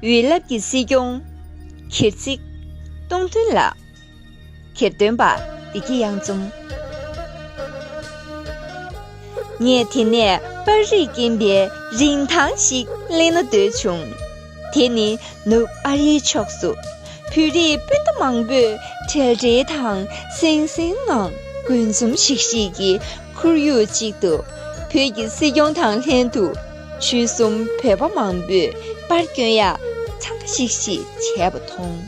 དབུས་རླབས་ཀྱི་སྲིད་སྐྱོང། གྱེར་གཙིགས། སྟོང་ཐུན་ལགས། གྱེར་སྟོན་པ། བདེ་སྐྱིད་གཡང་འཛོམ། ངས་དེ་ནས་པར་རིས་རྐྱེན་པའི་རིན་ཐང་ཞིག་གླེང་ན་འདོད་བྱུང། དེ་ནི་ནུབ་ཨ་རིའི་ཕྱོགས་སུ། བོད་རིགས་སྤུན་ཟླ་མང་པོས་བྲེལ་བྲེལ་དང་སེང་སེང་ངང་དགུན་འཛོམས་ཤིག་ཤིག་གི་ཁོར་ཡུག་ཅིག་ཏུ། བོད་ཀྱི་སྲིད་སྐྱོང་དང་ལྷན་དུ། ཆོལ་གསུམ་བོད་པ་མང་པོས་པར་བསྐྱོན་ཡ་ཚང་པ་ཤིག་ཤིག་བྱས་པ་མཐོང།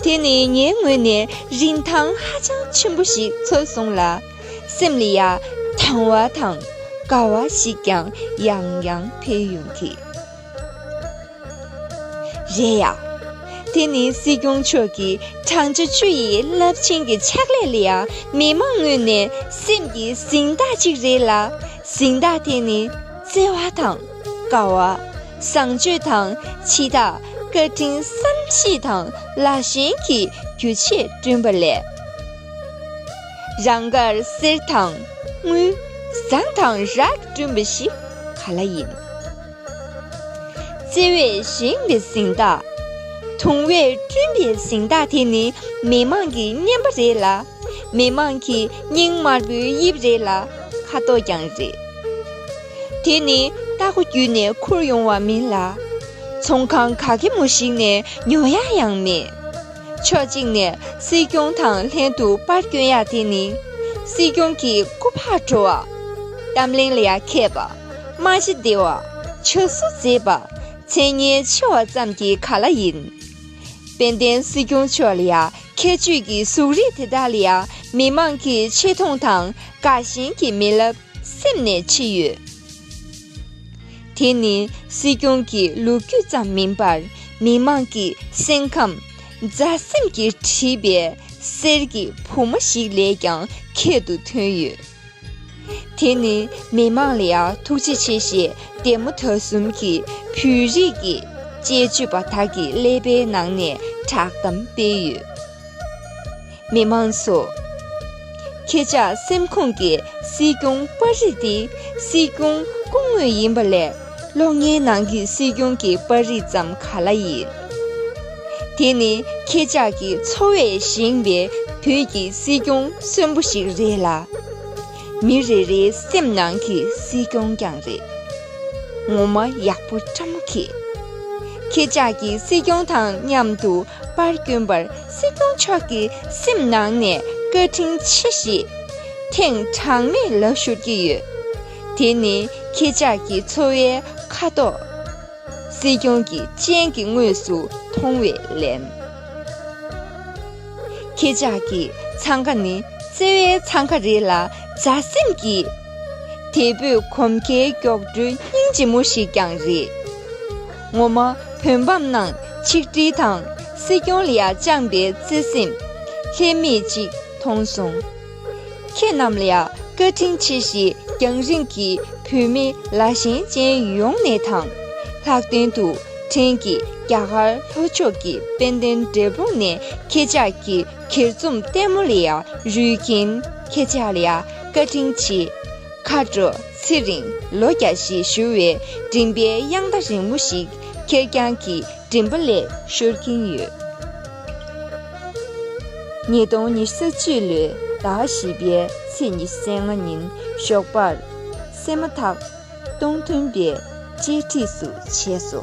དེ་ནི་ངའི་ངོས་ནས་རིན་ཐང་ཧ་ཅང་ཆེན་པོ་ཞིག་ཚོལ་སོང་ལ། སེམས་ལ་ཡ་དང་བ་དང་དགའ་བ་ཞིག་ཀྱང་ཡང་ཡང་འཕེལ་ཡོང་གི། རེད་ཡ། དེ་ནི་སྲིད་སྐྱོང་མཆོག་གི་བགྲང་བྱ་བཅུ་ཡི་རླབས་ཆེན་གྱི་ཕྱག་ལས་ལ་ཡང་མི་མང་ངོས་ནས་སེམས་ཀྱི་གཟེངས་རྟགས་གཅིག་རེད་ལ། གཟེངས་རྟགས་དེ་ནི་བརྩེ་བ་དང། དགའ་བ། བཟང་སྤྱོད་དང་འཆི་བདག་བཀའ་དྲིན་བསམ་ཤེས་དང་ལ་ཞེན་གྱི་རྒྱུ་ཆས་བསྐྲུན་པ་ལས། རང་དགར་གསེར་དང་དངུལ། ཟངས་དང་རག་བསྐྲུན་པ་ཞིག་ག་ལ་ཡིན། བརྩེ་བས་བཞེངས་པའི་གཟེངས་རྟགས། དུང་བས་བསྐྲུན་པའི་གཟེངས་རྟགས་དེ་ནི་མི་མང་གི་སྙན་པ་རེད་ལ། མི་མང་གི་སྙིང་དམར་པོའི་དབྱིབས་རེད་ལ་ཁ་དོག་ཀྱང་རེད། དེ་ནི་རྟ་ཁོ་བརྒྱུད་ནས་ཁུར་ཡོང་བ་མིན་ལ། ཚོང་ཁང་ག་གེ་མོ་ཞིག་ནས་ཉོ་ཡ་ཡང་མེད། ཕྱོགས་གཅིག་ནས་སྲིད་སྐྱོང་དང་ལྷན་དུ་པར་བསྐྱོན་ཡ་དེ་ནི་སྲིད་སྐྱོང་གི་སྐུ་ཕག་བྲོ་བ། གཏམ་གླེང་ལ་ཡ་མཁས་པ། མ་གཞི་བདེ་བ་ཆ་བསུ་མཛད་པ་མཚན་སྙན་ཆེ་བ་ཙམ་གྱིས་ག་ལ་ཡིན། དཔལ་ལྡན་སྲིད་སྐྱོང་མཆོག་ལ་ཡང་ཁྱད་ཆོས་ཀྱི་གཟུགས་རིས་དེ་དག་ལ་ཡང་མི་མང་གིས་ཆེ་མཐོང་དང་དགའ་ཞེན་གྱི་མེ་རླབས་སེམས་ནས་མཆིས་ཡོད། དེ་ནི་སྲིད་སྐྱོང་གི་ལོ་རྒྱུས་ཙམ་མིན་པར་མི་མང་གི་སེམས་ཁམས། མཛའ་སེམས་ཀྱིས་བྲིས་པའི་གསེར་གྱི་བུ་མོ་ཞིག་ལས་ཀྱང་ཁྱད་དུ་ཐོན་ཡོད། དེ་ནི་མི་མང་ལ་ཡང་ཐུགས་རྗེ་ཆེ་ཞེས་དད་མོ་ད་གསུམ་གྱིས་བོད་རིགས་ཀྱི་དཔྱད་བརྗོད་པ་དག་གི་ཀླད་པའི་ནང་ནས་བསྒྲགས་གཏམ་སྤེལ་ཡོད། མི་མང་ཚོ། ཁྱེད་ཅག་སེམས་ཁོངས་ཀྱི་སྲིད་སྐྱོང་པར་རིས་ཏེ་སྲིད་སྐྱོང་སྐུ་དངོས་ཡིན་པ་ལས། ལོ་ལྔའི་ནང་གི་སྲིད་སྐྱོང་གི་པར་རིས་ཙམ་ག་ལ་ཡིན། དེ་ནི་ཁྱེད་ཅག་གི་འཚོ་བས་བཞེངས་པའི་བོད་ཀྱི་སྲིད་སྐྱོང་གསོན་པོ་ཞིག་རེད་ལ། མི་རེ་རེའི་སེམས་ནང་གི་སྲིད་སྐྱོང་ཀྱང་རེད། ངོ་མ་ཡག་པོ་བཀྲ་མོ་ཁྱེད། ཁྱེད་ཅག་གི་སྲིད་སྐྱོང་དང་མཉམ་དུ་པར་བསྐྱོན་པར་སྲིད་སྐྱོང་མཆོག་གི་སེམས་ནང་ནས་བཀའ་དྲིན་ཆེ་ཞེས་ཐེངས་གྲངས་མེད་ལབ་ཤོར་གྱི་ཡོད། དེ་ནི་ཁྱེད་ཅག་གི་འཚོ་བའི་ཁ་དོག། སྲིད་སྐྱོང་གི་སྤྱན་གྱིས་དངོས་སུ་མཐོང་བའི་ལན། ཁྱེད་ཅག་གི་འཚང་ཁ་ནི་བརྩེ་བའི་འཚང་ཁ་རེད་ལ་མཛའ་སེམས་ཀྱི། དལ་བུས་གོམས་ཁའི་མགྱོགས་འགྲོའི་སྙིང་རྗེ་མོ་ཞིག་ཀྱང་རེད། ངོ་མ་བོད་འབམ་ནང་ཆིག་སྒྲིལ་དང་སྲིད་སྐྱོང་ལ་བཅངས་པའི་བརྩེ་སེམས་ལྷད་མེད་ཅིག་མཐོང་སོང། ཁྱེད་རྣམས་ལ་བཀའ་དྲིན་ཆེ་ཞེས་རྒྱང་རིང་གི་བོད་མི་ལ་ཞེན་ཅན་ཡོངས་ནས་དང། ལྷག་དོན་དུ་ཕྲན་གྱིས་རྒྱ་གར་ལྷོ་ཕྱོགས་ཀྱི་དཔལ་ལྡན་འབྲས་སྤུངས་ནས་ཁྱེད་ཅག་གི་གྱེར་རྩོམ་ལྟད་མོ་ལ་རོལ་རྐྱེན། ཁྱེད་ཅག་ལ་བཀའ་དྲིན་ཆེ། མཁའ་འགྲོ་ཚེ་རིང་ལོ་བརྒྱ་ཞེས་ཞུ་བའི་མགྲིན་པའི་དབྱངས་རྟ་རིང་མོ་ཞིག་ཁེར་རྐྱང་གི་མགྲིན་པ་ལས་ཤོར་གྱིན་ཡོད། ཉིས་སྟོང་ཉི་ཤུ་རྩ་བཅུ་ལོའི་ཟླ་བཞི་པའི་ཚེས་ཉི་ཤུ་ཚེས་ལྔ་ཉིན་ཞོགས་པར་སད་མ་ཐག་སྟོང་མཐུན་པའི་བཅད་ཁྲིས་སུ་བྱས་སོ།